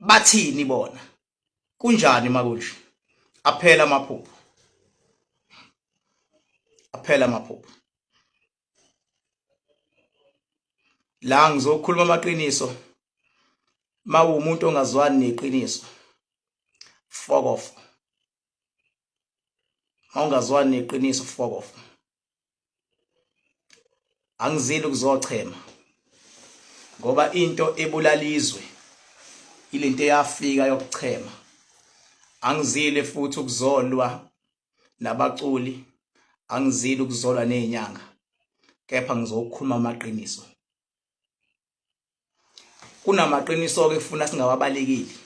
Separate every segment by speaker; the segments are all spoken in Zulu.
Speaker 1: bathini bona kunjani makunje aphela amaphupho aphela amaphupho la ngizokhuluma amaqiniso mawumuntu ongazwani neqiniso fokof mawungazwani neqiniso fokof angizile ukuzochema ngoba into ebulalizwe ilento eyafika yokuchema angizile futhi ukuzolwa nabaculi angizile ukuzolwa nezinyanga kepha ngizokhuluma amaqiniso kunamaqiniso ke kufuna singawabalekeli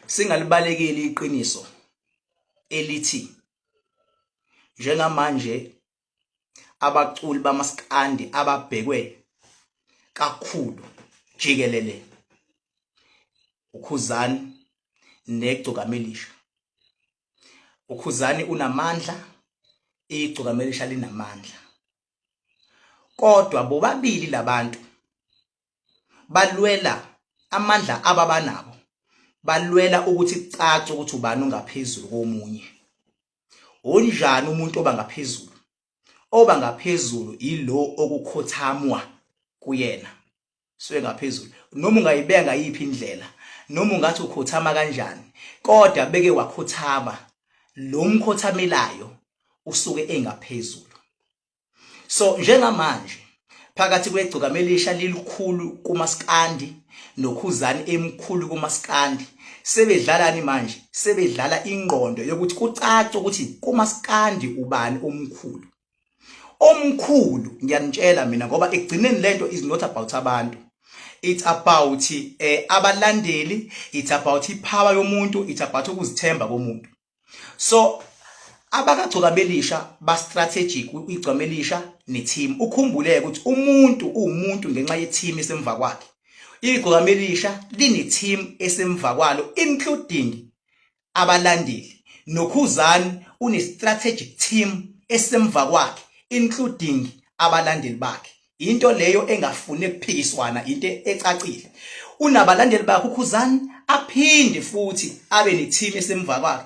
Speaker 1: singalibalekeli iqiniso elithi njengamanje abaculi bamaskandi ababhekwe kakhulu jikelele ukhuzani negcukamelisha ukhuzani unamandla igcukamelisha linamandla kodwa bobabili labantu balwela amandla ababanabo balwela ukuthi kucace ukuthi ubani ongaphezulu komunye unjani umuntu oba ngaphezulu oba ngaphezulu yilo okukhothamwa kuyena suke ngaphezulu noma ungayibeka ngayiphi indlela noma ungathi ukhothama kanjani kodwa beke wakhothama lo mkhothamelayo usuke engaphezulu so njengamanje phakathi kwegcokama elisha lilikhulu kumaskandi nokhuzani emkhulu kumaskandi sebedlalani manje sebedlala ingqondo yokuthi kucace ukuthi kumaskandi ubani omkhulu omkhulu ngiyanitshela mina ngoba ekugcineni lento is not about abantu it's about eh abalandeli it's about ipower yomuntu it's about ukuzithemba komuntu so abakagcoka belisha ba strategic igcome elisha ne team ukhumbuleke ukuthi umuntu uwumuntu ngenxa ye team esemva kwakhe igcome elisha line team esemva kwalo including abalandeli noKhuzani une strategic team esemva kwakhe including abalandeli bakhe into leyo engafune kuphikiswana into ecacile unabalandeli bakhe uKhuzani aphinde futhi abe ne team esemva kwakhe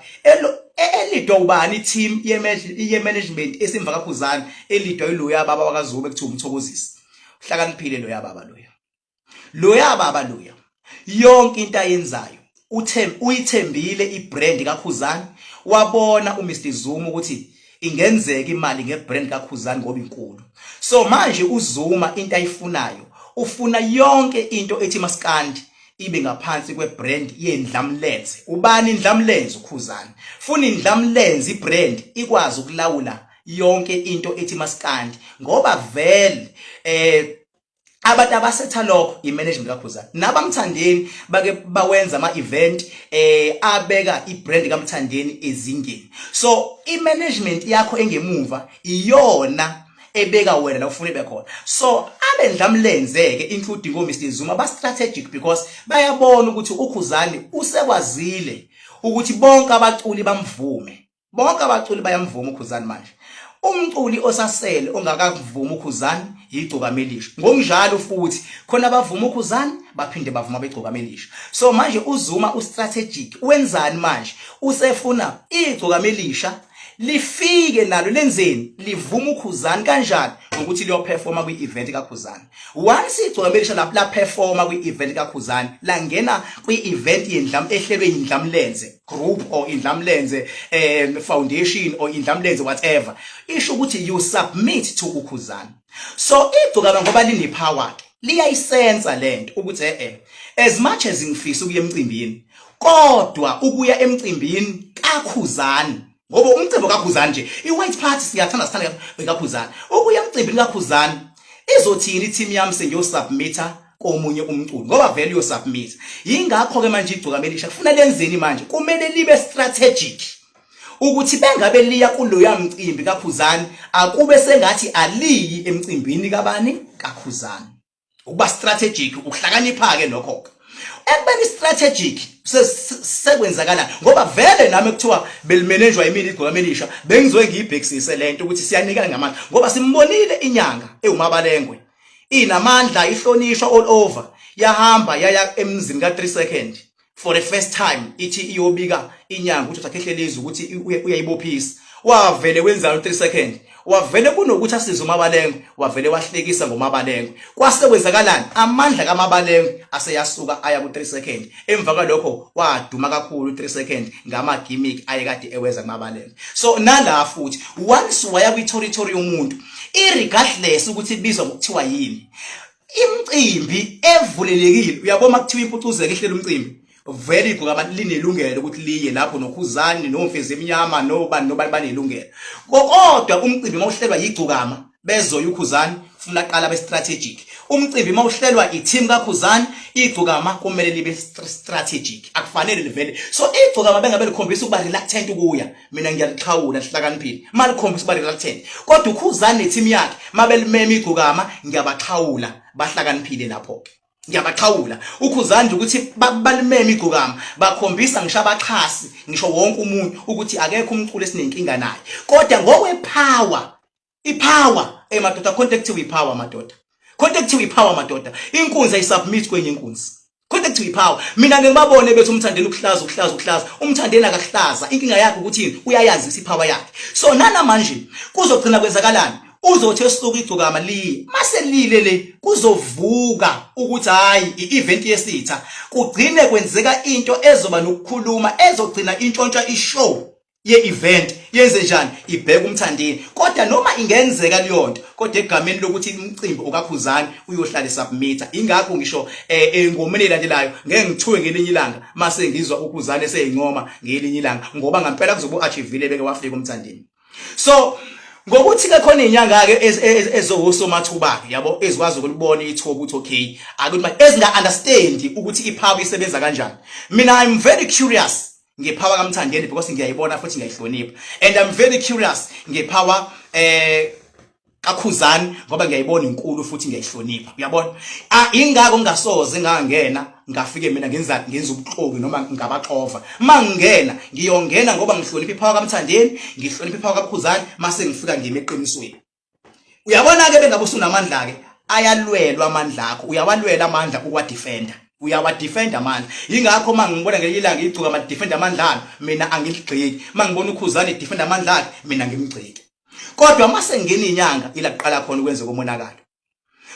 Speaker 1: elidwa ubani i-team ye-management esimva kakhuzane elidwa iloya baba wakazube kuthiwa umthokozisi uhlakaniphile loya baba loya loya baba loya yonke into ayenzayo uthe uyithembile ibrand kakhuzani wabona uMr Zuma ukuthi ingenzeka imali ngebrand kakhuzani ngoba inkulu so manje uzuma into ayifunayo ufuna yonke into ethi maskandi ibe ngaphansi kwebrand yendlamlenze ubani indlamlenze ukhuzani funa indlamlenze ibrand ikwazi ukulawula yonke into ethi maskandi ngoba vele eh abantu abasetha lokho imanagement kaKhuzani nabamthandeni bake bawenza ama event eh abeka ibrand kaMthandeni ezingeni so imanagement yakho engemuva iyona ebeka wena la ufuna ibe khona so abendla mlenzeke including o Mr Zuma ba strategic because bayabona ukuthi uKhuzani usekwazile ukuthi bonke abaculi bamvume bonke abaculi bayamvuma ukhuzani manje umculi osasele ongakavumi ukhuzani yigcokamelisha ngokunjalo futhi khona abavuma ukhuzani baphinde bavuma begcokamelisha so manje uzuma ustrategic wenzani manje usefuna igcokamelisha lifike nalo lenzeni livuma ukhuzani kanjani ngokuthi liyoperforma kwi-event kakhuzani once igcwambelisha lapho laperforma kwi-event kakhuzani langena kwi-event yendlam ehlelwe yindlamlenze group or indlamlenze um foundation or indlamlenze whatever isho ukuthi you submit to ukhuzana so igcokama ngoba linepower ke liyayisensa lento ukuthi eh, eh as much as ngifisa ukuya emcimbini kodwa ukuya emcimbini kakhuzani ngoba umcimbi kakhuzani nje i-white party siyathanda sithanda kakhuzani ukuya emcimbini kakhuzani izothini i-team yami sengiyosubmitha komunye umculo ngoba vele uyosubmit yingakho ke manje igcuka melisha kufuna lenzeni manje kumele libe strategic ukuthi bengabe liya kuloya mcimbi kakhuzani akube sengathi aliyi emcimbini kabani kakhuzani ukuba strategic ukuhlakanipha ke nokho ke ekubeni strategic sekwenzakala ngoba vele nami kuthiwa belimanejwa imini igcwa melisha bengizoe ngiyibhekisise lento ukuthi siyanikana ngamandla ngoba simbonile inyanga ewumabalengwe inamandla ihlonishwa all over yahamba yaya emzini ka 3 second for the first time ithi iyobika inyanga ukuthi uthakhehlele izwi ukuthi uyayibophisa wavele wenzalo 3 second wavele kunokuthi asize umabalengwe wavele wahlekisa ngomabalengwe kwase kwenzakalani amandla kamabalengwe aseyasuka aya ku 3 second emva kwalokho waduma kakhulu 3 second ngama gimmick ayekade ewenza kumabalengwe so nala futhi once waya kwi territory yomuntu irregardless ukuthi ibizwa ngokuthiwa yini imcimbi evulelekile uyabo makuthiwa impucuzeko ihlela umcimbi vele igqoka abantu linelungelo ukuthi liye lapho nokhuzani nomfezi emnyama nobani nobani banelungelo kodwa umcimbi mawuhlelwa yigcukama bezoya ukhuzani funa qala be strategic umcimbi mawuhlelwa i-team kakhuzani igcukama kumele libe strategic akufanele livele so igcukama bengabe likhombisa ukuba reluctant ukuya mina ngiyalixhawula lihlakaniphile malikhombisa uba liralithele kodwa ukhuzani nethimu yakhe mabelimema igcokama ngiyabaxhawula bahlakaniphile lapho-ke ngiyabaxhawula ukhuzani nje ukuthi balimeme igcokama bakhombisa ngisho abaxhasi ngisho wonke umuntu ukuthi akekho umculo esinenkinga naye kodwa ngokwepower ipower hey madoda khonto ekuthiwa ipower madoda khonto ekuthiwa ipower madoda inkunzi ayisubmit kwenye inkunzi khonto ekuthiwa ipower mina ngeke babone bethi umthandeni ukuhlaza ukuhlaza ukuhlaza umthandeni akahlaza inkinga yakhe ukuthi uyayazi isipower yakhe so nana manje kuzogcina kwenzakalani uzothi esuku igcokama liye mase lile le kuzovuka ukuthi hayi i-event yesitha kugcine kwenzeka into ezoba nokukhuluma ezogcina intshontsha ishow ye-event yenze njani ibheke umthandeni kodwa noma ingenzeka leyonto kodwa egameni lokuthi umcimbi okakhuzani uyohlale submitter ingakho ngisho eh, engomeni elandelayo ngeke ngithuke ngelinye ilanga mase ngizwa ukhuzane seyincoma ngelinye ilanga ngoba ngampela kuzobe uachievile beke wafika umthandeni so ngokuthi ke khona inyanga ke ezohoso mathuba ke yabo ezikwazi ukulibona ithuba ukuthi okay akuthi ezinga understand ukuthi iphawu isebenza kanjani mina i'm very curious ngepower kaMthandeni because ngiyayibona futhi ngiyayihlonipha and I'm very curious ngepower eh kakhuzani ngoba ngiyayibona inkulu futhi ngiyayihlonipha uyabona ah, ingako ngingasoze ngangena ngafike mina ngenza ngenza ubuxoki noma ngabaxova mangingena ngiyongena ngoba ngihlonipha iphawa kamthandeni ngihlonipha iphawa kakhuzani mase ngifika ngime eqinisweni uyabona-ke bengabe usunamandla-ke ayalwelwa amandla akho uyawalwela amandla ukuwadefenda uyawadefenda amandla yingakho uma ngibona ngelinye ilanga igcuka madefenda amandla alo mina angiligxeki uma ngibona ukhuzane edefenda amandla akhe mina ngimgxeki kodwa uma sengena inyanga ila kuqala khona ukwenzeka umonakalo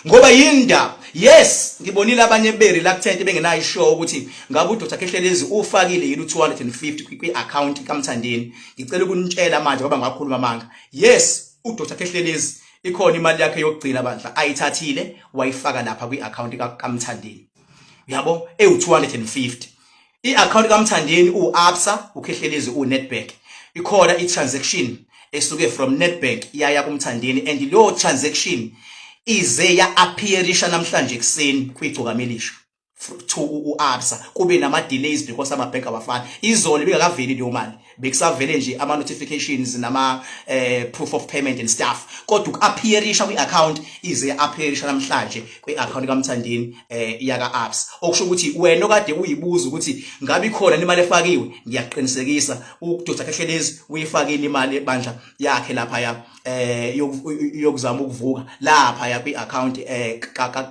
Speaker 1: ngoba yinda yes ngibonile abanye beri la kuthente bengenayo ishow ukuthi ngabe uDr Khehlelezi ufakile yini u250 kwi account kaMthandeni ngicela ukunitshela manje ngoba ngakhuluma manga yes uDr Khehlelezi ikhona imali yakhe yokugcina bandla ayithathile wayifaka lapha kwi account kaMthandeni yabo ewu250 I-akhawunti kaMthandeni uwu-absa ukhehlelezi uwu-netbank ikhona i-transaction esuke from netbank yaya kumthandeni and leyo transaction ize ya-appearisha namhlanje ekuseni kwigcokamilisho to u-absa kube nama-delays because amabhenki abafani izolo ibingakaveli leyo mali bekusavele nje ama notifications nama eh, proof of payment and stuff kodwa ukuappearisha kwi account ize appearisha namhlanje kwi account kaMthandeni eh, yaka apps okusho ukuthi wena okade uyibuza ukuthi ngabe ikhona imali efakiwe ngiyaqinisekisa uDr Khehlelezi uyifakile imali ebandla yakhe lapha ya eh yokuzama ukuvuka lapha ya kwi-account eh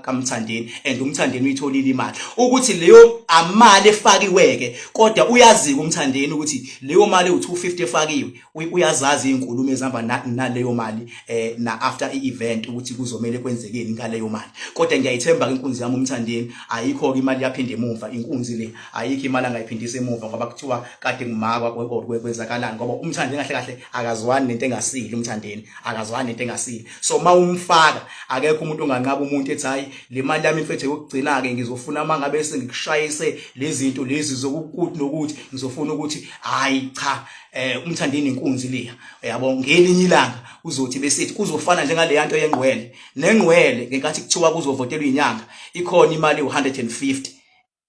Speaker 1: kaMthandeni and uMthandeni uyitholile imali ukuthi leyo amali efakiweke kodwa uyazika uMthandeni ukuthi leyo mali u250 efakiwe uyazazi izinkulumo ezihamba naleyo mali eh na after i-event ukuthi kuzomele kwenzekeni ngaleyo mali kodwa ngiyayithemba ke inkunzi yami uMthandeni ayikho ke imali yaphinde emuva inkunzi le ayikho imali angayiphindisa emuva ngoba kuthiwa kade ngumakwa kwezakalani ngoba umthandeni kahle kahle akazwani nento engasile umthandeni akazwani nento engasile so ma umfaka akekho umuntu onganqaba umuntu ethi hayi le mali yami mfethu yokugcina-ke ngizofuna uma ngabe sengikushayise le zinto lezi zokukuthi nokuthi ngizofuna ukuthi hhayi cha eh umthandeni inkunzi leya yabo ngelinye ilanga uzothi besithi kuzofana njengaleya nto yengqwele nengqwele ngenkathi kuthiwa kuzovotelwa inyanga ikhona imali u150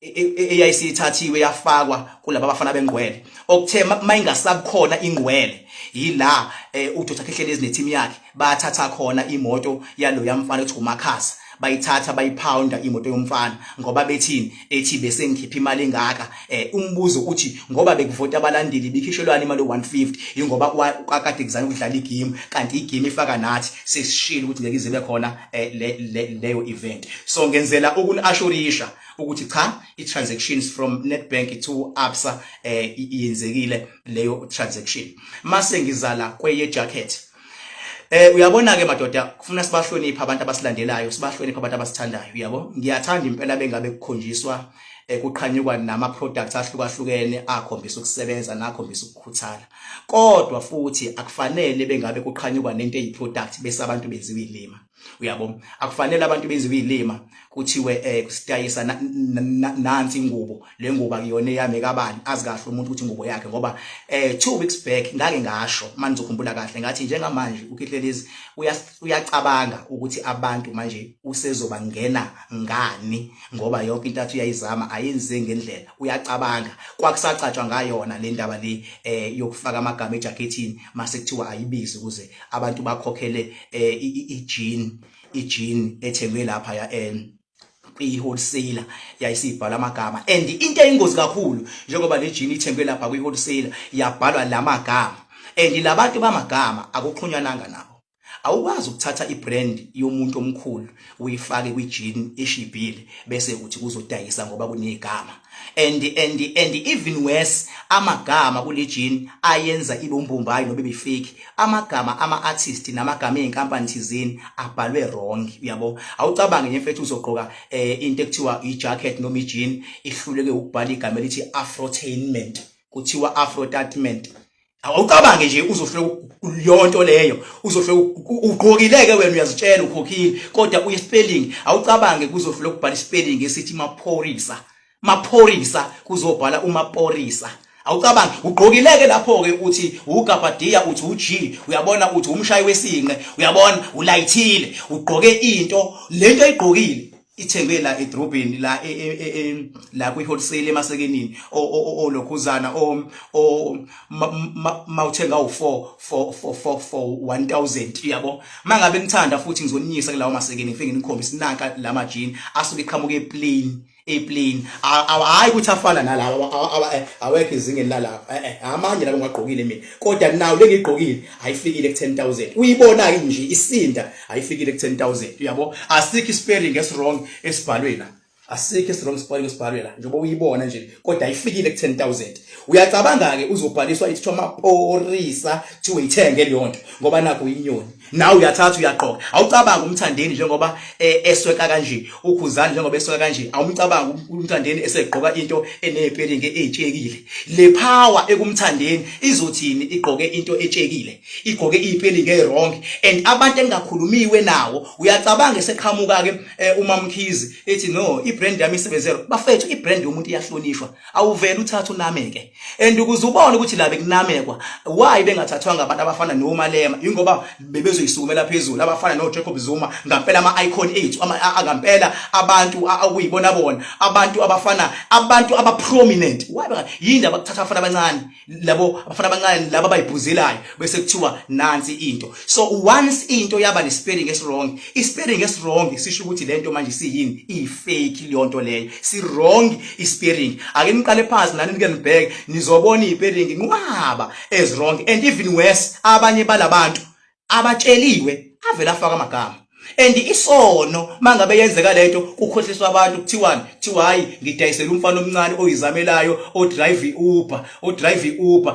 Speaker 1: e, e, e, eyayisithathiwe yafakwa kulaba bafana bengqwele okuthe mayingasabukhona ingqwele yila eh, uDr Khehlelezi neteam yakhe bathatha khona imoto yalo yamfana ethi uMakhasa bayithatha bayiphawunda imoto yomfana ngoba bethini ethi bese ngikhipha imali engaka eh umbuzo uthi ngoba bekuvota abalandeli bikhishelwani imali 150 ingoba kwakade kuzana ukudlala igame kanti igame ifaka nathi sesishilo ukuthi ngeke izibe khona eh, leyo event so ngenzela ukunishurisha ukuthi cha i-transactions from Nedbank to Absa eh yenzekile leyo transaction mase ngizala kweye jacket Eh uyabona ke madoda kufuna sibahloniphe abantu abasilandelayo sibahloniphe abantu abasithandayo uyabo ngiyathanda impela bengabe kukhonjiswa eh, kuqhanyukwa nama products ahlukahlukene akhombisa ukusebenza nakhombisa ukukhuthala kodwa futhi akufanele bengabe kuqhanyukwa nento eyi product bese abantu benziwa ilima uyabo akufanele abantu benze kuyilima kuthiwe eh kusitayisa nansi ingubo le ngubo akuyona eyami kabani azi kahle umuntu ukuthi ingubo yakhe ngoba eh 2 weeks back ngake ngasho manje ngizokhumbula kahle ngathi njengamanje uKihlelezi uyacabanga ukuthi abantu manje usezoba ngena ngani ngoba yonke into athi uyayizama ayenze ngendlela uyacabanga kwakusacatshwa ngayona le ndaba le eh yokufaka amagama ejacketini mase kuthiwa ayibizi ukuze abantu bakhokhele eh ijini ijini ethengwe lapha ya en eh, kwi-wholesaler yayisibhala amagama and into eyingozi kakhulu njengoba le jini ithengwe lapha kwi-wholesaler yabhalwa la magama and labantu bamagama akuxhunyananga nabo awukwazi ukuthatha ibrand yomuntu omkhulu uyifake kwijini eshibhile bese uthi kuzodayisa ngoba kunegama and and and even worse amagama kule jini ayenza ibe umbombayi nobe befake amagama ama artist namagama ezinkampani thizeni abhalwe wrong uyabo awucabange nje mfethu uzogqoka eh, into ekuthiwa i jacket noma i jean ihluleke ukubhala igama elithi afrotainment kuthiwa afrotainment awucabange nje uzohlwe yonto leyo uzohlwe ugqokileke wena uyazitshela ukhokhile kodwa uye spelling awucabange kuzohlwe ukubhala spelling esithi maphorisa maphorisa kuzobhala umaphorisa awucabangi ugqokileke lapho ke uthi ugabadiya uthi uG uyabona uthi umshayi wesinqe uyabona ulayithile ugqoke into lento ayigqokile ithengwe la edrobheni la e, e, e, la kwi wholesale emasekenini olokhuzana o mawuthenga u4 for for for for 1000 uyabo mangabe ngithanda futhi ngizoninyisa kulawo masekeni ngifike ngikhombisa nanka la majini asuke iqhamuka eplain eplain hayi ukuthi afana nalawa eh, awekho izingeni lalapha eh, eh, amanye labo ngagqokile mina kodwa nawo lengigqokile ayifikile ku 10000 uyibona ke nje isinda ayifikile ku 10000 uyabo asikho ispelling eswrong esibhalwe la asikho eswrong spelling esibhalwe la njengoba uyibona nje kodwa ayifikile ku 10000 uyacabanga ke uzobhaliswa ithiwa maporisa kuthiwa uyithenge leyo nto ngoba nakho inyoni nawe uyathatha uyaqoka awucabanga umthandeni njengoba eh, esweka kanje ukhuzani njengoba esweka kanje awumcabanga um-, umthandeni esegqoka into enepelling etshekile le power ekumthandeni izothini igqoke into etshekile igqoke ipeli nge wrong and abantu engakhulumiwe nawo uyacabanga eseqhamuka ke eh, umamkhizi ethi no i brand yami isebenzelo bafethu i brand yomuntu iyahlonishwa awuvele uthatha unameke and ukuze ubone ukuthi la bekunamekwa why bengathathwanga abantu abafana no Malema ingoba bebezoyisukumela phezulu abafana no Jacob Zuma ngampela ama icon ethu ngampela abantu akuyibona bona abantu abafana abantu aba prominent why yini abakuthatha abafana abancane labo abafana abancane laba abayibhuzelayo bese kuthiwa nansi into so once into yaba nespelling eswrong ispelling eswrong sisho ukuthi lento manje siyini ifake leyo nto leyo si wrong ispelling ake niqale phansi nani nike nibheke nizobona ispelling nqwaba as wrong and even worse abanye balabantu abatsheliwe avele afaka amagama and isono mangabe yenzeka lento kukhohliswa abantu kuthiwani kuthiwa hayi ngidayisela umfana omncane oyizamelayo odrive Uber odrive Uber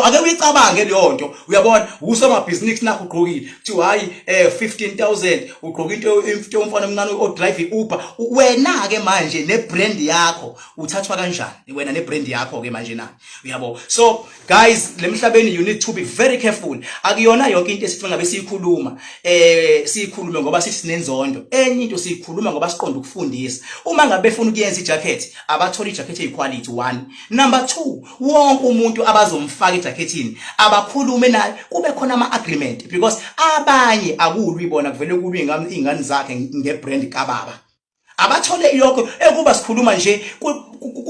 Speaker 1: ake uyicabange leyo nto uyabona usomabhizinisi nakho ugqokile kuthiwa hayi eh 15000 ugqoka into into umfana omncane odrive Uber wena ke manje ne brand yakho uthathwa kanjani wena ne brand yakho ke manje na uyabo so guys lemhlabeni you need to be very careful akuyona yonke into esifunga besiyikhuluma eh siyikhulume ngoba sisinenzondo enye into siyikhuluma ngoba siqonda ukufundisa uma ngabe befuna ukuyenza ijacket abathola ijacket eyiquality one number 2 wonke umuntu abazomfaka ejacketini abakhulume naye kube khona ama agreement because abanye akulwi bona kuvele kulwi ingane zakhe ngebrand kababa abathole yonke ekuba sikhuluma nje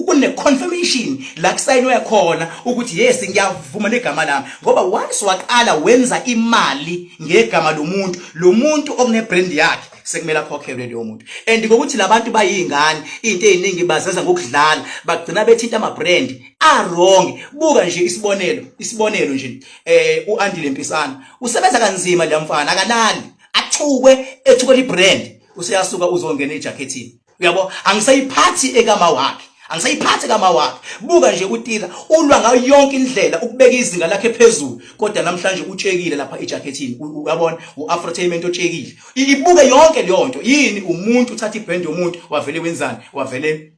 Speaker 1: kune confirmation la kusayinwe khona ukuthi yes ngiyavuma negama lami ngoba once waqala wenza imali ngegama lomuntu lomuntu okune brand yakhe sekumele akhokhelwe leyo muntu and ngokuthi labantu bayingane into eziningi bazenza ngokudlala bagcina bethinta ama brand a wrong buka nje isibonelo isibonelo nje eh uAndile Mpisana usebenza kanzima lamfana akalali athukwe ethukwe ibrand useyasuka uzongena ejakhethini uyabo angisayiphathi ekama wakhe angisayiphathi kama wakhe buka nje utira ulwa ngayo yonke indlela ukubeka izinga lakhe phezulu kodwa namhlanje utshekile lapha ejacketini uyabona uafrotainment otshekile ibuke yonke leyo nto yini umuntu uthatha ibrand yomuntu wavele wenzani wavele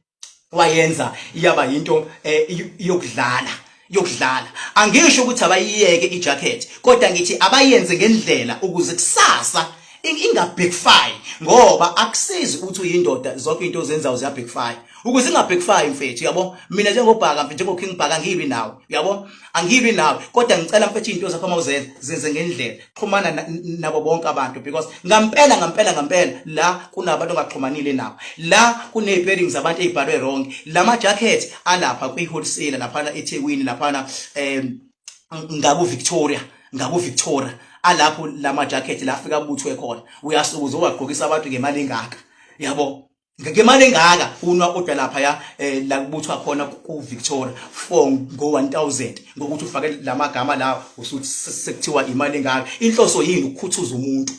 Speaker 1: wayenza iyaba yinto eh, yokudlala yokudlala angisho ukuthi abayiyeke ijacket kodwa ngithi abayenze ngendlela ukuze kusasa ingabhekfire ngoba akusizi ukuthi uyindoda zonke into ozenzayo ziyabhekfire ukuze ingabhekfire mfethu yabo mina njengobhaka mfethu njengoking bhaka ngibi nawe yabo angilwi nawe kodwa ngicela mfethu izinto zakho uma uzenza zenze ngendlela xhumana nabo bonke abantu because ngampela ngampela ngampela la kunabantu ongaxhumanile nabo la kuneyipering zabantu ezibhalwe wrong lama jacket alapha kwi wholesale laphana eThekwini laphana em ngaku Victoria ngaku Victoria alapho lama jacket la afika kubuthwe khona uyasukuza owagqokisa abantu ngemali engaka yabo ngemali engaka unwa kodwa lapha ya eh, la kubuthwa khona ku Victoria for ngo 1000 ngokuthi ufake lamagama lawo usuthi sekuthiwa imali engaka inhloso yini ukukhuthuza umuntu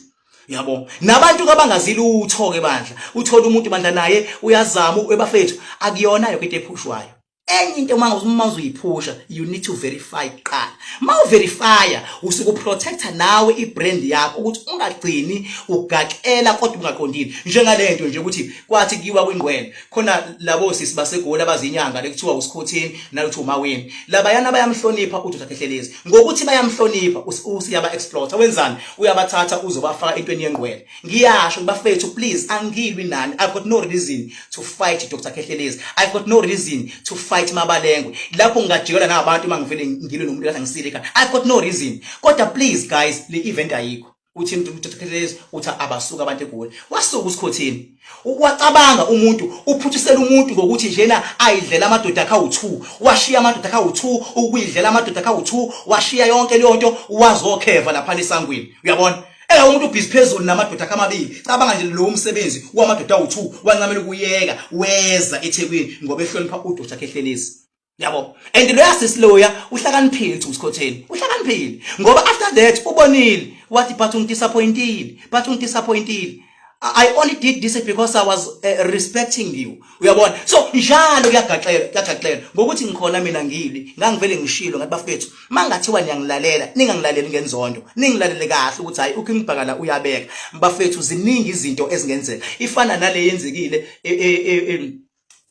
Speaker 1: yabo nabantu kabangazile uthoke bandla uthola umuntu bandla naye uyazama ebafethu akuyona yonke into ephushwayo enye into uma uma uzoyiphusha you need to verify kuqala uma uverifya usuke uprotecta nawe ibrand yakho ukuthi ungagcini ugaxela kodwa ungaqondile njengale nto nje ukuthi kwathi kiwa kwingqwele khona labo sisi basegoli abazinyanga lekuthiwa usikhothini nalokuthi umaweni labayana bayamhlonipha uthi uthakhehlelezi ngokuthi bayamhlonipha usiyaba exploiter wenzani uyabathatha uzobafaka entweni yengqwele ngiyasho bafethu please angilwi nani i've got no reason to fight dr kehlelezi i've got no reason to fight mabalengwe lapho ngingajikela nabantu uma ngivele ngilwe nomuntu kahle ngisilika i've got no reason kodwa please guys le event ayikho uthini dr kehlelezi uthi abasuka abantu egoli wasuka usikhothini ukwacabanga umuntu uphuthisela umuntu ngokuthi njena ayidlela amadoda akha u2 washiya amadoda akha u2 ukuyidlela amadoda akha u2 washiya yonke leyo nto wazokheva lapha esangweni uyabona Ela umuntu ubhizi phezulu namadoda akhe amabili. Cabanga nje lo umsebenzi wamadoda awu-2 wancamela ukuyeka weza eThekwini ngoba ehlonipha udoda akhe ehlelezi. Yabo. And lo yasisiloya uhlakaniphile uthi usikhotheni. Uhlakaniphile ngoba after that ubonile wathi but ungidisappointile. But ungidisappointile. I only did this because I was uh, respecting you. Uyabona? So njalo kuyagaxela, kuyagaxela ngokuthi ngikhona mina ngili, ngangivele ngishilo ngathi bafethu, mangathiwa niyangilalela, ningangilaleli ngenzondo, ningilalele kahle ukuthi hayi uKimbhakala uyabeka. Bafethu ziningi izinto ezingenzeka. Ifana nale yenzekile e, e, e,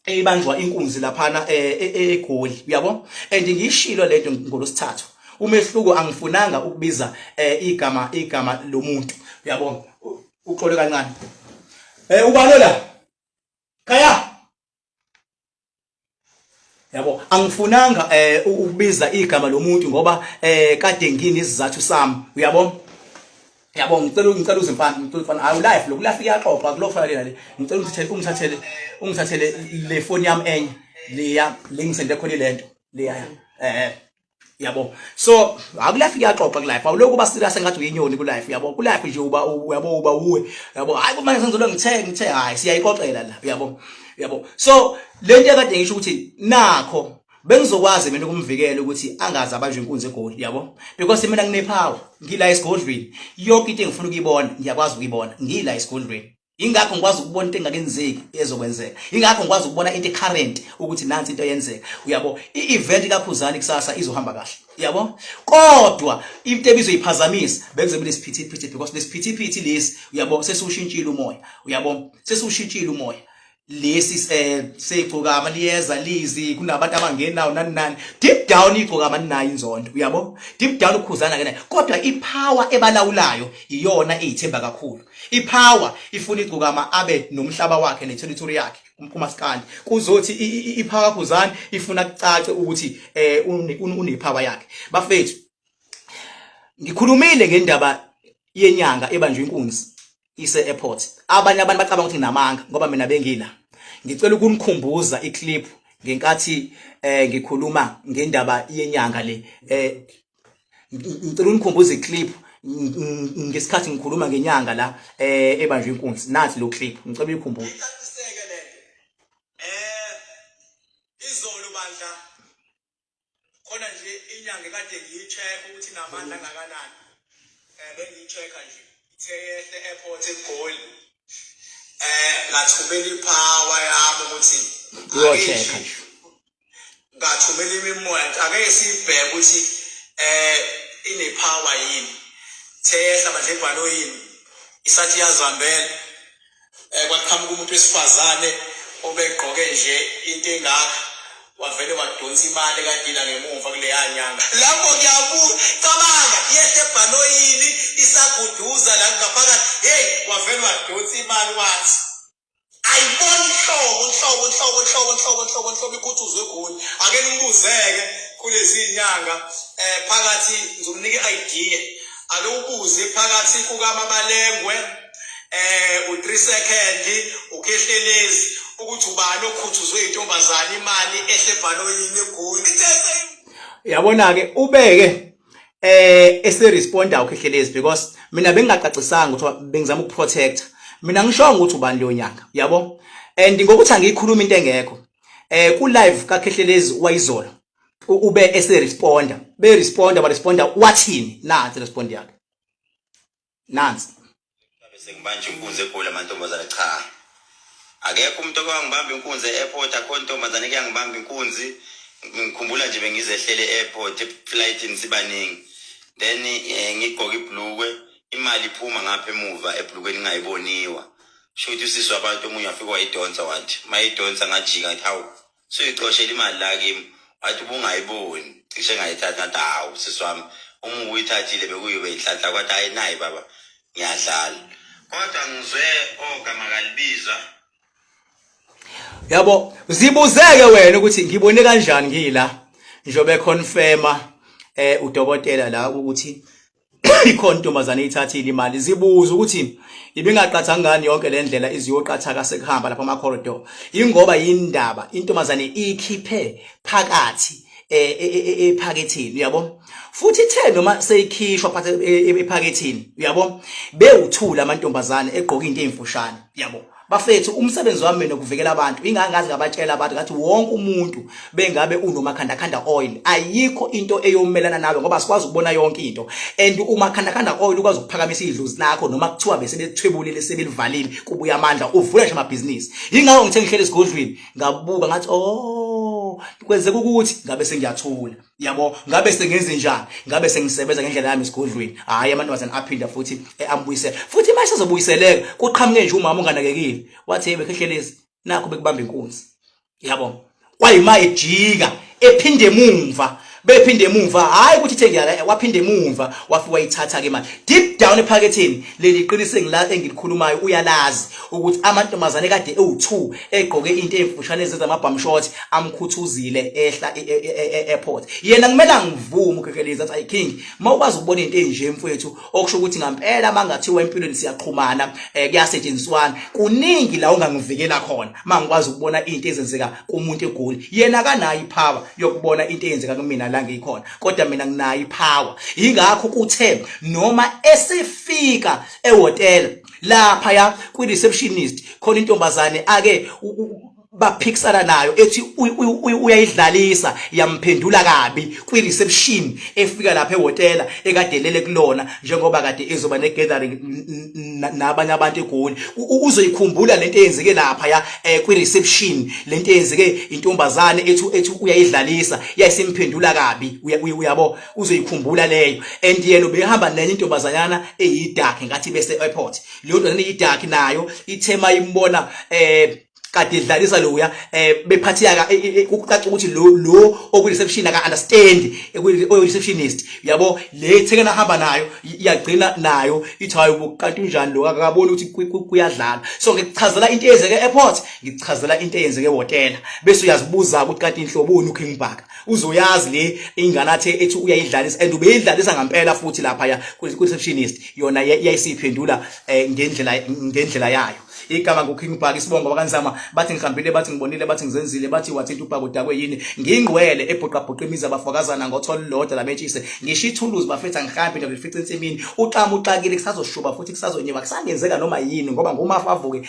Speaker 1: eyibanjwa inkunzi laphana eh, e, e, egoli uyabo and ngiyishilo lento ngolosithathu umehluko angifunanga ukubiza eh, igama igama lomuntu uyabo uxole kancane eh ubalola khaya yabo angifunanga eh ukubiza igama lomuntu ngoba eh kade ngini izizathu sami uyabo yabo ngicela ngicela uzimpande ngicela ufana awu life lokhu life iyaxoxa kulofanele nale ngicela ungithathele ungithathele ungithathele le phone yami enye leya lengisende khona lento leya eh yabo so akulife iyaxoxa ku life awulokhu uba serious ngathi uyinyoni ku life yabo ku life nje uba yabo uba uwe yabo hayi kumanje senzolo ngithe ngithe hayi siyayixoxela la yabo yabo so lento ekade ngisho ukuthi nakho bengizokwazi mina ukumvikela ukuthi angazi abanjwe inkunzi egoli yabo because mina nginepower ngila esigodlweni yonke into engifuna ukuyibona ngiyakwazi ukuyibona ngila esigodlweni ingakho ngikwazi ukubona into engakenzeki ezokwenzeka ingakho ngikwazi ukubona into current ukuthi nansi into yenzeka uyabo i-event kakhuzani kusasa izohamba kahle yabo kodwa into ebizoyiphazamisa bekuzobe lesiphithiphithi because lesiphithiphithi lesi uyabo sesiwushintshile umoya uyabo sesiwushintshile umoya lesi eh, segcokama liyeza lizi kunabantu abangenawo nani nani deep down igcokama ninayo inzondo uyabo deep down ukhuzana ke nayo kodwa ipower ebalawulayo iyona eyithemba kakhulu ipower ifuna igcokama abe nomhlaba wakhe neterritory yakhe umphuma sikandi kuzothi ipower khuzana ifuna kucace ukuthi eh unepower yakhe bafethu ngikhulumile ngendaba yenyanga ebanjwe inkunzi ise airport abanye abantu bacabanga ukuthi nginamanga ngoba mina bengila ngicela ukunikhumbuza iclip ngenkathi eh ngikhuluma ngendaba yenyanga le eh ngicela unikhumbuze iclip ngesikhathi ngikhuluma ngenyanga la eh ebanjwe inkunzi nathi lo clip ngicela uyikhumbuze
Speaker 2: khona nje inyanga ekade ngiyi-check ukuthi namandla angakanani um bengiyi-check-a nje ithe yehle airport egoli um eh, ngathumela iphawa yami ukuthi uyocheck-a
Speaker 1: nje
Speaker 2: ngathumela imimoya ake siyibheke ukuthi um inephawa yini theyehla manje ibhanoyini isathi yazihambela Eh kwaqhamuka umuntu wesifazane obegqoke nje into engaka wavele wadonsa imali kadila ngemumva kuleya nyanga lapho ngiyabuka cabanga yehle ebhanoyini isaguduza la ngaphakathi hey wavele wadonsa imali wathi ayiboni hlobo hlobo hlobo hlobo hlobo hlobo hlobo ikhuthuzwe egoli ake nimbuzeke kulezi nyanga eh phakathi ngizomnika idea ake ubuze phakathi kukaMabalengwe eh u3 second ukhehlelezi ukuthi ubani okhuthuzwe intombazana imali ehle bhaloyini egoli
Speaker 1: yabona ke ubeke eh ese responder ukhehlelezi because mina bengingacacisanga ukuthi bengizama ukuprotector mina ngishonga ukuthi ubani leyo nyanga yabo and ngokuthi angiyikhuluma into engekho eh ku live ka Khehlelezi wayizolo ube ese responder be responder ba responder wathini nathi respond yakhe nansi
Speaker 3: sengibanje inkunzi egoli amantombazane cha akekho umuntu okewangibamba inkunzi e-airport akho ntombazane kuyangibamba inkunzi ngikhumbula nje bengizehlele e-airport eflightini sibaningi then eh, ngigqoke ibhlukwe imali iphuma ngapha emuva ebhlukweni ingayiboniwa shuthi usisi wabantu omunye wafika wayidonsa wathi mayidonsa ngajika ngathi hawu suyixoshela imali la kimi wathi ubungayiboni cishe ngayithatha ngathi hawu sisi wami uma ubuyithathile bekuyobe inhlanhla kwathi hayi nayi baba ngiyadlala kodwa ngizwe ogama kalibizwa
Speaker 1: yabo zibuzeke wena ukuthi ngibone kanjani ngila njobe confirma eh udokotela la ukuthi ikhona intombazane eyithathile imali zibuza ukuthi ibingaqatha ngani yonke le ndlela iziyoqathaka sekuhamba lapha ama-corridor ingoba yindaba intombazane iyikhiphe phakathi e, e, e, ephakethini uyabo futhi ithe noma seyikhishwa phatha ephakethini uyabo bewuthula amantombazane egqoka into eyimfushane uyabo bafethu umsebenzi wami mina ukuvikela abantu ingangazi ngabatshela abantu ngathi wonke umuntu bengabe unomakhandakhanda oil ayikho into eyomelana nawe ngoba sikwazi ukubona yonke into and umakhandakhanda oil ukwazi ukuphakamisa idlozi lakho noma kuthiwa bese bethwebulile sebelivalile kubuya amandla uvula nje amabhizinisi yingakho ngithe ngihlele esigodlweni ngabuka ngathi oh kwenzeka ukuthi ngabe sengiyathula yabo ngabe sengenze njani ngabe sengisebenza ngendlela yami esigodlweni hayi amantombazane aphinda futhi ambuyisela futhi uma esezobuyiseleka kuqhamuke nje umama unganakekile wathi hey bekhehlelezi nakho bekubamba inkunzi yabo kwayima ejika ephinde emumva bephinde emumva hayi ukuthi ithe ngiyala waphinde emumva wafika wayithatha ke manje deep down ephaketheni leli qiniso engila engilikhulumayo uyalazi ukuthi amantombazane kade ewu2 egqoke into ezifushane ezenza ama bum short amkhuthuzile ehla e, e, e, airport yena kumele angivume ukhekelezi athi i king mawukwazi ukubona into enje mfowethu okusho ukuthi ngampela mangathiwa empilweni siyaqhumana eh, kuyasetshenziswana kuningi la ungangivikela khona mangikwazi ukubona into ezenzeka kumuntu egoli yena kanayo ipower yokubona into eyenzeka kumina la ngikhona kodwa mina nginayo ipower ingakho kuthe noma esifika ehotela lapha ya kwi receptionist khona intombazane ake baphikisana nayo ethi uyayidlalisa yamphendula kabi kwi reception efika lapha ehotela ekadelele kulona njengoba kade ezoba ne gathering nabanye abantu egoli uzoyikhumbula lento eyenzeke lapha ya eh, kwi reception lento eyenzeke intombazane ethi ethi uyayidlalisa yayisimphendula kabi uyabo uzoyikhumbula leyo and yena ubehamba nenye intombazanyana eyidark ngathi bese airport leyo ntombazana eyidark nayo ithema imbona eh kade idlalisa loya eh bephatheka eh, eh, eh, ukucaca ukuthi lo lo oku reception aka understand oku receptionist yabo le thekena hamba nayo iyagcina nayo ithi hayi ubuqantu unjani lo akaboni ukuthi kuyadlala so ngikuchazela into eyenzeke airport ngikuchazela into eyenzeke hotel bese uyazibuza ukuthi kanti inhloboni uking bhaka uzoyazi le ingane athe ethi uyayidlalisa and ubeyidlalisa ngampela futhi lapha ya receptionist yona yayisiphendula eh, ngendlela ngendlela yayo igama nguKing Bhaka isibongo bakanzama bathi ngihambile bathi ngibonile bathi ngizenzile bathi wathinta ubhaka udakwe yini ngingqwele ebhuqabhuqa imizi abafakazana ngothola lodwa lametshise ngisho ithuluzi bafetha ngihambe ngifica insimini uxama uxakile kusazoshuba futhi kusazonyiwa kusangenzeka noma yini ngoba ngumafa avuke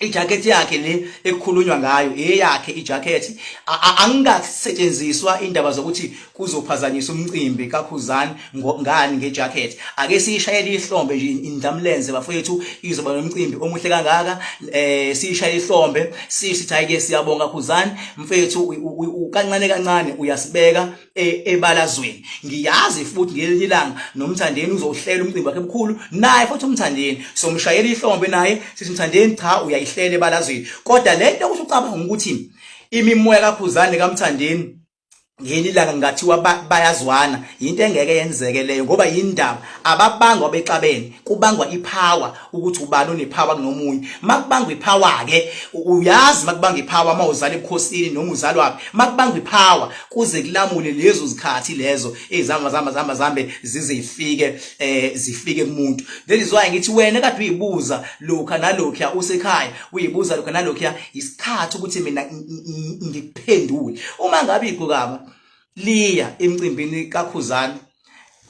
Speaker 1: ijacket yakhe le ekukhulunywa ngayo eyakhe ijacket angikasetshenziswa indaba zokuthi kuzophazanyiswa umcimbi kakhuzani ngani ngejacket ake siyishayele ihlombe nje indamlenze bafowethu izoba nomcimbi omuhle kangaka eh siyishayele ihlombe sithi hayi ke siyabonga khuzani mfethu ukancane kancane uyasibeka e, ebalazweni ngiyazi futhi ngelinye ilanga nomthandeni uzohlela umcimbi wakhe mkhulu naye futhi umthandeni somshayela ihlombe naye sithi mthandeni cha uyayihlela ebalazweni kodwa lento ukuthi ucabanga ukuthi imimoya kakhuzane kamthandeni ngelinye ilanga ngathiwa bayazwana yinto engeke yenzeke leyo ngoba yindaba ababangwa bexabene kubangwa ipower ukuthi ubani onephawa kunomunye makubangwa iphawa ke uyazi makubangwa iphawa uma uzala ebukhosini noma uzalwa makubangwa iphawa kuze kulamule lezo zikhathi lezo ezihamba zihamba zihamba zihambe zize ifike eh zifike kumuntu that is why ngithi wena kade uyibuza lokha nalokho usekhaya uyibuza lokha nalokho isikhathi ukuthi mina ngikuphendule uma ngabe igqokama liya emcimbini kakhuzani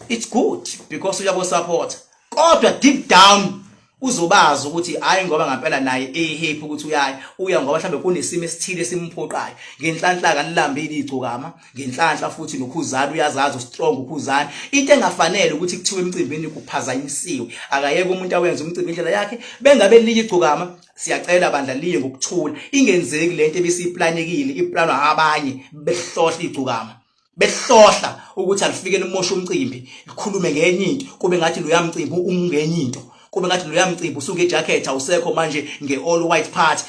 Speaker 1: it's good because uyaku support kodwa deep down uzobazi ukuthi hayi ngoba ngempela naye ehappy ukuthi uyayi uya ngoba mhlambe kunesimo esithile esimphoqayo ngenhlanhla kanilambile igcokama ngenhlanhla futhi nokhuzana uyazazi ustrong ukhuzana into engafanele ukuthi kuthiwe emcimbini kuphazanyisiwe akayeke umuntu awenza umcimbi indlela yakhe bengabe liye igcokama siyacela bandla liye ngokuthula ingenzeki lento ebisiplanekile iplanwa abanye behlohla igcokama behlohla ukuthi alifike limoshe umcimbi likhulume ngenye into kube ngathi lo yamcimbi umungenye into kube ngathi lo yamcimbi usuke ejacket awusekho manje nge-all white party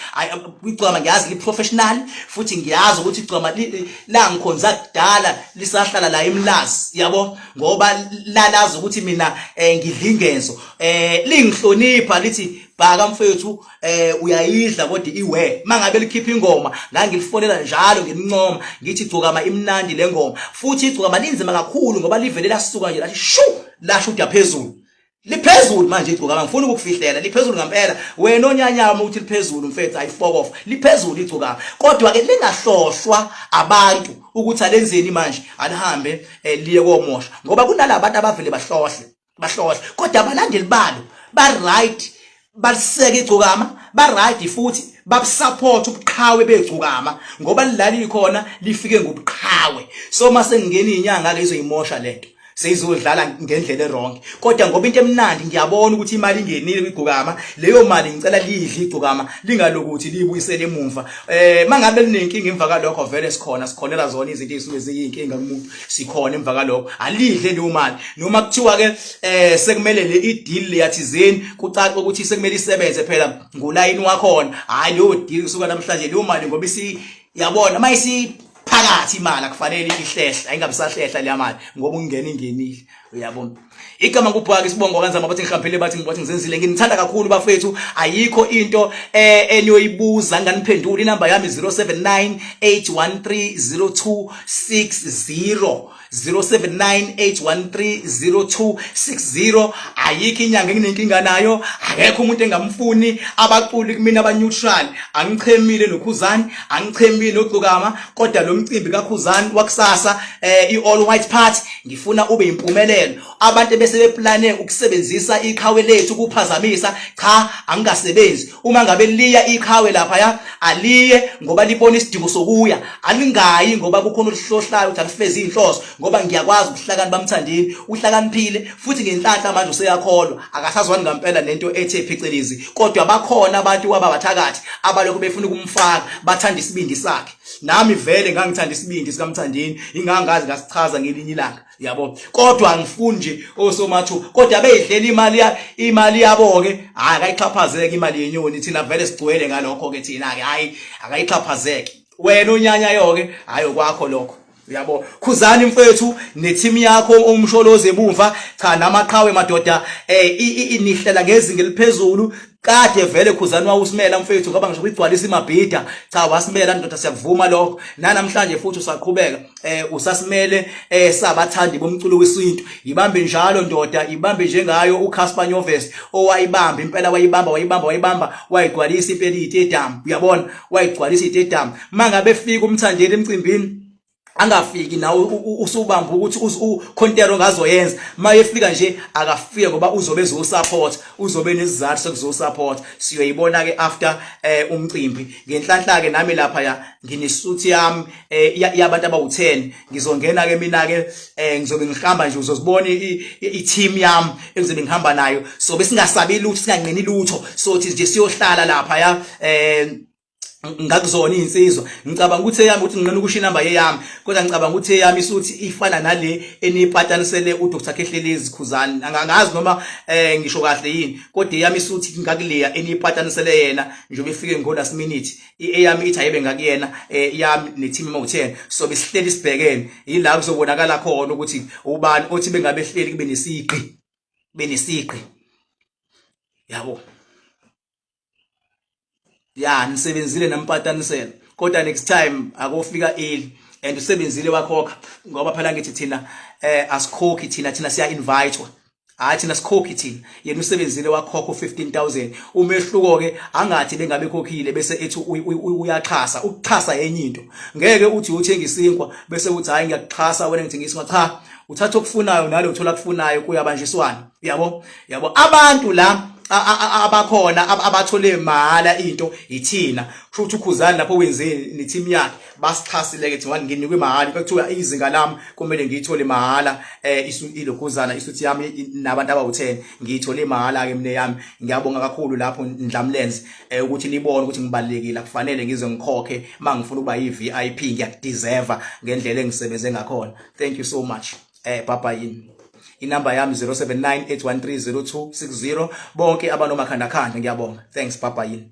Speaker 1: igcwama ngiyazi li-professional futhi ngiyazi ukuthi igcwama langikhonza kudala lisahlala la emlazi yabo ngoba lalazi ukuthi mina um ngidlingezo um lingihlonipha lithi bhaka mfethu eh uyayidla kodwa iwe mangabe likhipha ingoma ngangilifonela njalo ngimncoma ngithi gcokama imnandi lengoma futhi igcokama linzima kakhulu ngoba livele lasuka nje lathi shu lasho uda phezulu liphezulu manje igcokama ngifuna ukukufihlela liphezulu ngempela wena onyanyama uthi liphezulu mfethu ayifokof liphezulu igcokama kodwa ke lingahlohlwa abantu ukuthi alenzeni manje alihambe eh, liye komosha ngoba kunalabantu abavele bahlohle bahlohla kodwa abalandeli balo ba right baliseke igcokama ba right futhi babusupport ubuqhawe begcokama ngoba lilali khona lifike ngobuqhawe so mase ngingena inyanga ke izoyimosha lento seyizodlala ngendlela erong kodwa ngoba into emnandi ngiyabona ukuthi imali ingenile kwigcokama leyo mali ngicela lidle igcokama lingalokuthi liyibuyisele emumva eh mangabe linenkinga emva kalokho vele sikhona sikhonela zona izinto ezisuke ziyinkinga kumuntu sikhona emva kaloko alidle leyo mali noma kuthiwa ke eh sekumele le ideal leyathizeni kucaca ukuthi sekumele isebenze phela ngolayini wakhona hayi leyo deal kusuka namhlanje leyo mali ngoba isi yabona mayisi phakathi imali akufanele ihlehle ayingabisahlehla leya mali ngoba ungena ingenile uyabona igama kubhaka isibongo wakanzama bathi ngihaphele bathi ngibathi ngizenzile nginithanda kakhulu bafethu ayikho into eh eniyoyibuza nganiphendula inamba yami 0798130260 0798130260 ayikho inyanga enginenkinga nayo akekho umuntu engamfuni abaculi kumina aba neutral angichemile nokhuzani angichemile nogcokama kodwa lo mcimbi kakhuzani wakusasa eh i all white party Ngifuna ube impumelelo. Abantu bese beplane ukusebenzisa iqhawe lethu kuphazamisa. Cha, angikasebenzi. Uma ngabe liya iqhawe lapha ya, aliye ngoba libona isidingo sokuya. Alingayi ngoba kukhona oluhlohlayo ukuthi alifezi inhloso ngoba ngiyakwazi ukuhlakani bamthandini. Uhlakaniphile futhi ngenhlanhla manje useyakholwa. Akasazwani ngempela nento ethe phecelezi. Kodwa bakhona abantu kwababathakathi abalokhu befuna ukumfaka bathanda isibindi sakhe. nami vele ngangithanda isibindi sikamthandeni ingangazi ngasichaza ngelinye ilanga yabo kodwa angifuni nje osomathu kodwa beyidlela imali imali yabo ke hayi akayixhaphazeke imali yenyoni thina vele sigcwele ngalokho ke thina ke hayi akayixhaphazeke wena onyanyayo ke hayi okwakho lokho Uyabo khuzani mfethu neteam yakho ongumsholozi ebumva cha namaqhawe madoda eh inihlela ngezinga eliphezulu kade vele khuzani wawusimela mfethu ngoba ngisho kugcwalisa imabhida cha wasimela ndoda siyakuvuma lokho nanamhlanje futhi usaqhubeka eh usasimele eh sabathandi bomculo wesintu ibambe njalo ndoda ibambe njengayo uCasper Nyoves owayibamba impela wayibamba wayibamba wayibamba wayigcwalisa impela idedam uyabona wayigcwalisa idedam mangabe efika umthandeli emcimbini angafiki nawe usubamba ukuthi ukhontero ngazoyenza mayefika nje akafike ngoba uzobe ezosupport uzobe nesizathu sokuzosupport siyoyibona ke after eh, umcimbi ngenhlanhla ke nami lapha ya nginesuthi yami eh, yabantu abawu10 ngizongena ke mina ke eh, ngizobe ngihamba nje uzozibona i-team yami engizobe ngihamba nayo so besingasabi lutho singanqeni lutho sothi nje siyohlala lapha ya eh ngakuzona izinsizwa ngicabanga ukuthi eyami ukuthi ngcono ukusho inamba yeyami kodwa ngicabanga ukuthi eyami isuthi ifana nale enipatanisele uDr Khehlelezi Khuzani angangazi noma eh ngisho kahle yini kodwa eyami isuthi ngakuleya enipatanisele yena njengoba ifike ngo last minute eyami ithi ayibe ngakuyena eh, yami ne team mawuthena so besihleli sibhekene yila kuzobonakala khona ukuthi ubani othi bengabe hleli kube nesiqi benesiqi yabo ya nisebenzile nampatanisela kodwa next time akofika early and usebenzile wakhokha ngoba phela ngithi thina eh asikhokhi thina thina siya invitewa hayi thina sikhokhi thina yena usebenzile wakhokha u15000 umehluko ke angathi bengabe khokhile bese ethi uyaxhasa ukuxhasa yenye into ngeke uthi uthenga isinkwa bese uthi hayi ngiyakuxhasa wena ngithengisa cha uthatha okufunayo nalo uthola kufunayo kuyabanjiswana uyabo yabo abantu la abakhona abathole mahala into yithina kusho ukuthi ukhuzani lapho wenzeni neteam yakhe basixhasile ke thina nginikwe mahala bekuthiwa izinga lami kumele ngiyithole mahala eh ilokhuzana isuthi yami nabantu abawu10 ngiyithole mahala ke mina yami ngiyabonga kakhulu lapho ndlamlenze eh, ukuthi nibone ukuthi ngibalekile akufanele ngize ngikhokhe mangifuna ukuba yi VIP ngiyakudeserve ngendlela engisebenze ngakhona thank you so much eh papa yini inamba yami 0798130260 bonke abanomakhandakhanda ngiyabonga thanks papa yini